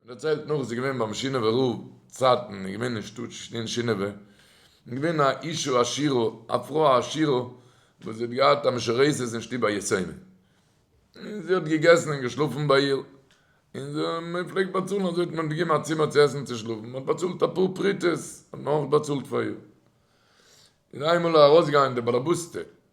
מען דערציילט נאך אז ס'איז געווען ביים שינאווער רב צייטן איז געווען אין שטאט שטין שינאווע איז געווען א אישה עשירה א פרוי א עשירה וואס זי האט געהאט א משרייסת אין שטוב א יתומה און זי האט געגעסן און געשלאפן ביי איר און זי מען פלעגט באצאלן אזוי האט מען געגעבן א צימער צו עסן צו שלאפן מען האט באצאלט אפאר פרוטות האט מען אויך באצאלט פאר איר איז איינמאל ארויסגעגאנגען די באלעבוסטע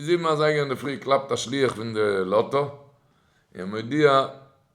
זיבן אזייגער אינדערפרי קלאפט א שליח פון די לאטא און מודיע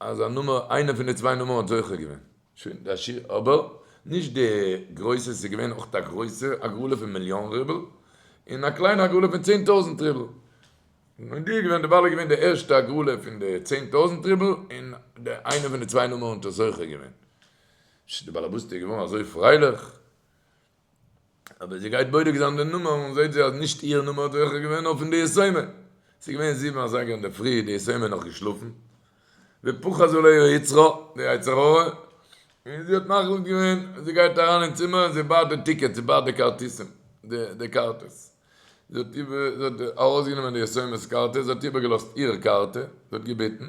אז א נומער איינע פון די צוויי נומערן האט זוכה געווען שוין די עשיר אבער נישט די גרויסע עס איז געווען אויך א גרויסע הגרלה פון מיליאן רובל און א קליינע הגרלה פון צען טויזנט רובל מודיע געווען די בעל איז געווען די ערשטע הגרלה פון די צען טויזנט רובל און די איינע פון די צוויי נומערן האט זוכה געווען די בעל הבית איז געווארן אזוי פרייליך אבער זי גייט בודק זיין די נומער און זעהט זי אז נישט איהר נומער האט העכער געווען נאר פון די יסומה. ס'איז געווען זיבן אזייגער אינדערפרי, די יסומה נאך געשלאפן. ופחז עליה היצרו, די יצר הרע, און זי האט מחליט געווען, זי גייט אריין אין צימער און זי בייט די טיקעטס, זי בייט די כרטיסים, די קארטעס. זי האט איבער, זי האט ארויסגענומען די יסומה'ס קארטע, זי האט איבערגעלאזט איהר קארטע, זי האט געבעטן,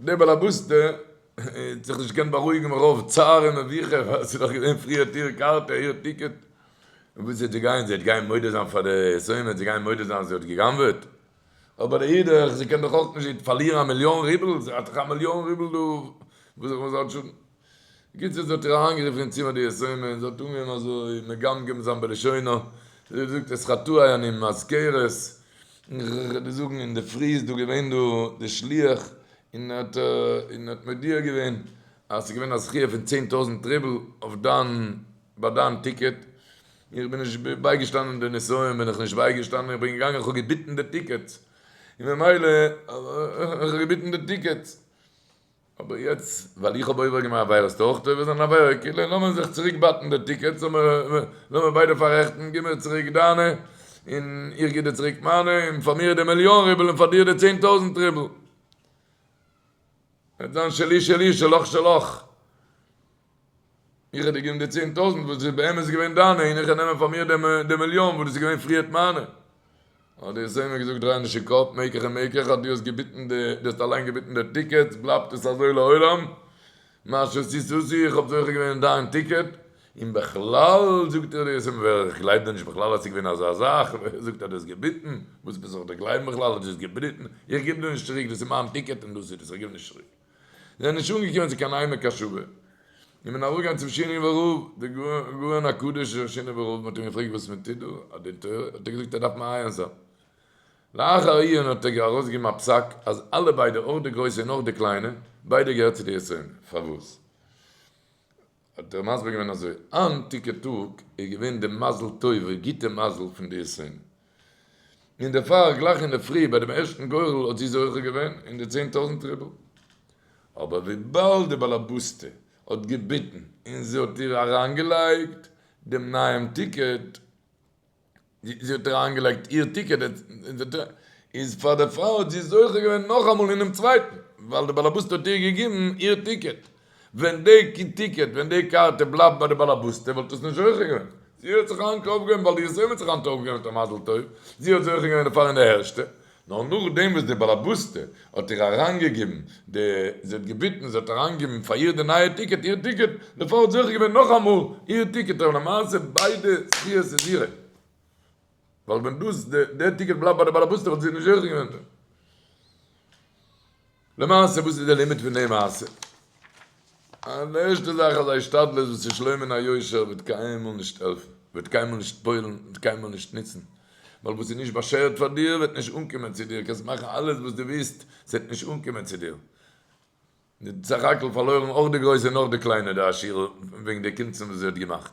דער בעל הבית ט האט זיך נישט געקענט בארואיגן מרוב צער און מביכה ווייל עס איז דאך געווען פריער אויף איר קארטע איר טיקעט און וואס וועט זי גיין זי וועט גיין מודה זיין פאר די עסויים וועט זי גיין מודה זיין אז זי האט געגנבעט אבער לאידך זי קען דאך אויך נישט פארלירן א מיליאן רובל זי האט דאך א מיליאן רובל דא וואס זאל זי האט שאדן גוט זיס האט איר אריינגערופן אין צימער די יתומה און זי האט אנגעהויבן אזוי מגמגם זיין בלשונו, זי האט געזאגט עס חטאי אני מזכרת, און ר ר זאגן אינדערפרי איז דא געווען דא די שליח און האט און האט מודיע געווען אז ס'איז געווען א זכיה פון צען טויזנט רובל אויף דיין ביי דיין טיקעט, און איך בין נישט בייגעשטאנען די נסיון בין איך נישט בייגעשטאנען איך בין געגאנגען איך האב געביטן די טיקעטס און ממילא איך האב געביטן די טיקעטס אבער יעצט ווייל איך האב עובר געמאכט וועל עסטו אויך עובר זיין עבירה כאילו לאמיר זיך צוריק באטן די טיקעטס לאמיר ביידע פארעכטן גיב מיר צוריק דיינע און איך גיב דיר צוריק מיינע און פאר מיר די מיליאן רובל און פאר דיר די צען טויזענט רובל וועט זיין שלי שלי שלך שלך. איך האב דיר געגעבן די צען טויזנט וואס איז באמת געווען דיינע און איך וועל נעמען פאר מיר די מיליאן וואס דאס איז געווען פריערט מיינע. האט די זמר געזאגט דרייענדישן קאפ, מעקעך און מעקעך אז דו האסט געביטן די, דו האסט אליין געביטן די טיקעטס בלייבט עס אזוי לעולם, מה שעשית עשי איך האב זוכה געווען אין דיין טיקעט, און בכלל זאגט איר די זמר איך גלייב דיר נישט בכלל אז ס'איז געווען אזא זאך, ווער זאגט אז דו האסט געביטן, וואס ביסט זיך דער גלייבן בכלל אז דו האסט געבריטן, איך גיב דיר נישט צוריק דאס איז מיין טיקעט און דאס איז דאס איך גיב נישט צוריק. זענען נישט אנגעקומען צו קיין עמק השווה, און מען איז ארויפגעגאנגען צום שני ורוב, דער גאון הקדוש דער שני ורוב, מען האט אים געפרעגט וואס מען טוט דא, אט דין תורה, האט ער געזאגט אז דארף מען עיין זיין. לאחר עיון האט ער ארויסגעגעבן א פסק אז אלע ביידע, אויך די גרויסע און אויך די קליינע, ביידע געהערט צו די עשרים, פארוואס? האט ער מסביר געווען אזוי, איין טיקע טאג איז געווען די מזל טוב'ע גוטע מזל פון די עשרים, און דערפאר גלייך אינדערפרי ביי דעם ערשטן גורל האט זי זוכה געווען אין די צען טויזנט רובל, אבער וויבאלד די באלעבאסטע האט געביטן און זי האט איר אריינגעלייגט דעם נייעם טיקעט, זי האט אריינגעלייגט איר טיקעט איז פאר די פרוי האט זי זוכה געווען נאכאמאל אינעם צווייטן ווייל די באלעבאסטע האט איר געגיבן איר טיקעט, ווען די טיקעט ווען די קארטע בלייבט ביי די באלעבאסטע וואלט עס נישט זוכה געווען, זי האט זיך היינט אויפגעהויבן ווייל איר זוהן האט זיך היינט אויפגעהויבן מיט א מזל טוב, זי האט זוכה געווען דערפאר אין די ערשטע נאר נאכדעם וואס די באלעבאסטע האט איר אריינגעגעבן די, זי האט געביטן, זי האט אריינגעגעבן פאר איר די נייע טיקעט, איר טיקעט, די פרוי האט זוכה געווען נאכאמאל איר טיקעט, אבער למעשה ביידע זכיות איז אירע, ווייל ווען דאס, די טיקעט בלייבט ביי די באלעבאסטע וואלט זי נישט זוכה געווען דערין. למעשה וואס איז די לימיט פון די מעשה? אז די ערשטע זאך אז א השתדלות וואס איז שלא מן היושר וועט קיינמאל נישט העלפן, וועט קיינמאל נישט פועל'ן, וועט קיינמאל נישט נוצן, ווייל וואס איז נישט באשערט פאר דיר וועט נישט אנקומען צו דיר, קענסט מאכן אלעס וואס דו ווילסט, עס וועט נישט אנקומען צו דיר. די סך הכל פארלוירן אויך די גרויסע און אויך די קליינע די עשירה וועגן די קונצן וואס זי האט געמאכט.